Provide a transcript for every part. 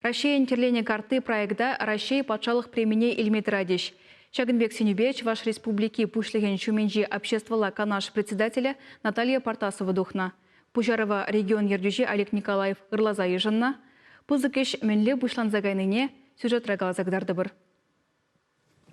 Раҫҫейӗн тӗрленӗ картти проекта Раҫҫей патшалӑх премине илме тӑратӗҫ. Ҫакӑн пек сӗнӳпе Чӑваш Республики Пуҫлӑхӗн ҫумӗнчи Обществӑлла канаш председателӗ Наталья Партасова тухнӑ. Пуҫарӑва регион ертӳҫи Олег Николаев ырласа йышӑннӑ. Пысӑк ӗҫ мӗнле пуҫланса кайнине сюжетра каласа кӑтартӑпӑр.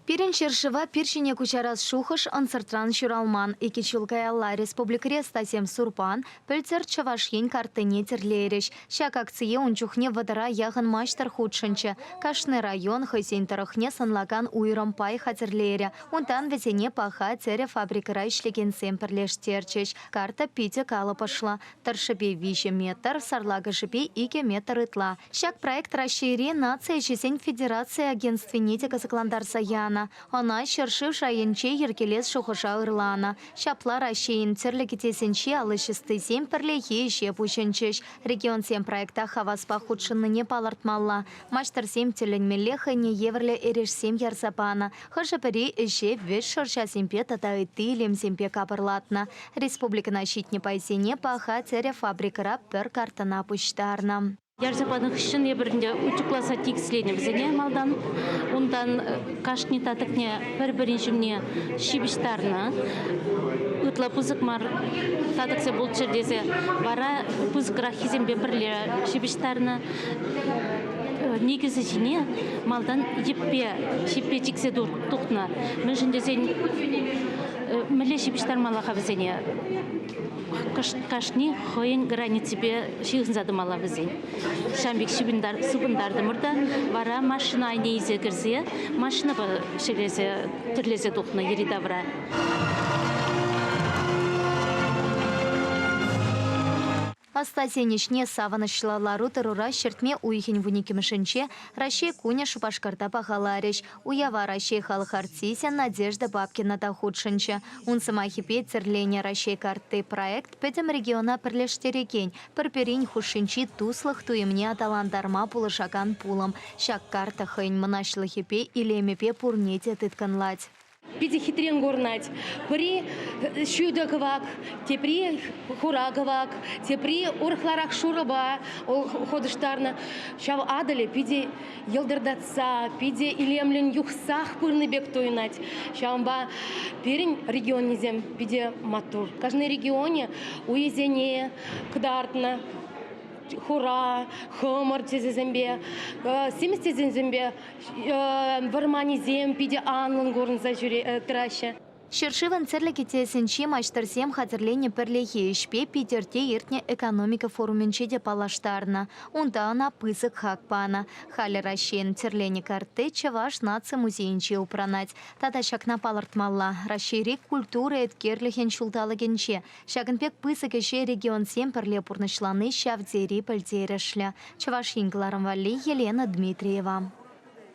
Пирӗн ҫӗршыва пир ҫине куҫарас шухӑш ӑнсӑртран ҫуралман. Икӗ ҫул каялла республикӑри ӑстасем Сурпан, пӗлтӗр Чӑваш Ен картине тӗрлейрӗҫ. Ҫак акцие ун чухне вӑтӑра яхӑн маҫтӑр хутшӑнчӗ. Кашни район хӑйсен тӑрӑхне сӑнлакан уйрӑм пай хатӗрлерӗ. Унтан вӗсене паха тӗрӗ фабрикӑра ӗҫлекенсем пӗрлештерчӗҫ. Карта питӗ калӑпӑшлӑ. тӑршшӗпе виҫӗ метр, сарлакӑшӗпе икӗ метр ытла. Ҫак проект Раҫҫейри наци ӗҫӗсен федераци агентствине те кӑсӑклантарса янӑ. Ӑна ҫӗршыв шайӗнче йӗркелес шухӑша ырланӑ. Ҫапла Раҫҫейӗн тӗрлӗ кӗтесӗнчи ал ӑҫӑстисем пӗрлехи ӗҫе пуҫӑнчӗҫ. Регионсем проекта хаваспах хутшӑннине палӑртмалла. Маҫтӑрсем тӗлӗнмелле хӑйне евӗрлӗ эрешсем ярса панӑ, хӑшӗ-пӗри ӗҫе вӗҫ шӑрҫасемпе тата ытти илемсемпе капӑрлатнӑ. Республикӑна ҫитнӗ пайсене паха тӗрӗ фабрикӑра пӗр картӑна пуҫтарнӑ. Ярса панӑ хыҫҫӑн эпир ӗнтӗ утюгласа тикӗсленӗ вӗсене малтан. Унтан кашни татӑкне пӗр-пӗрин ҫумне ҫыпӑҫтарнӑ. Ытла пысӑк мар татӑксем пулччӑр тесе вара пысӑкраххисемпе пӗрле ҫыпӑҫтарнӑ. никӗсӗ ҫине малтан йӗппе ҫиппе чиксе тухнӑ. Мӗншӗн тесен мӗнле ҫыпӑҫтармалла-ха вӗсене? Кашни хӑйӗн границипе ҫыхӑнса тӑмалла вӗсен. Ҫавӑн пек сыпӑнтартӑмӑр та вара машина айне илсе кӗрсе машинӑпа ҫӗлесе тӗрлесе тухнӑ йӗри-тавра. Ӑстасен ӗҫне савӑнӑҫлӑ лару-тӑрура ҫӗртме уйӑхӗн вун иккӗмӗшӗнче Раҫҫей кунӗ Шупашкарта пахаларӗҫ. Уява Раҫҫей халӑх артисӗ Надежда Бабкина та хутшӑнчӗ. Ун сӑмахӗпе, тӗрленӗ Раҫҫей картти проект пӗтӗм региона пӗрлештерекен, пӗр-пӗрин хушшинчи туслӑх туйӑмне аталантарма пулӑшакан пулӑм. Ҫак карта хӑйӗн мӑнаҫлӑхӗпе, илемӗпе пурне те тыткӑнлать. Питӗ хитрен курӑнать. Пӗри ҫутӑ кӑвак, тепри хура кӑвак, тепри урӑхларах шурӑпа хутӑштарнӑ. Ҫав Атӑлӗ питӗ йӑлтӑртатса, питӗ илемлӗн юхсах пырнӑ пек туйӑнать. Ҫавӑнпа пирӗн регионӗсем питӗ маттур. Кашни регионе уйӗсене кӑтартнӑ хура, хӑмӑр тӗсӗсемпе, симӗс тӗсӗсемпе вӑрманӗсем питӗ анлӑн курӑнса тӑраҫҫӗ. Ҫӗршывӑн тӗрлӗ кӗтесӗнчи маҫтӑрсем хатӗрленӗ пӗрлехи ӗҫпе Питӗрте иртнӗ экономика форумӗнче те паллаштарнӑ. Унта ӑна пысӑк хак панӑ. Халӗ Раҫҫейӗн тӗрленӗ картти Чӑваш наци музейӗнче упранать. Тата ҫакна палӑртмалла, Раҫҫейри Культура эткерлӗхӗн ҫулталӑкӗнче Ҫакӑн пек пысӑк ӗҫе регионсем пӗрле пурнӑҫлани ҫав тери пӗлтерӗшлӗ, Чӑваш Ен кӑларӑм валли Елена Дмитриева.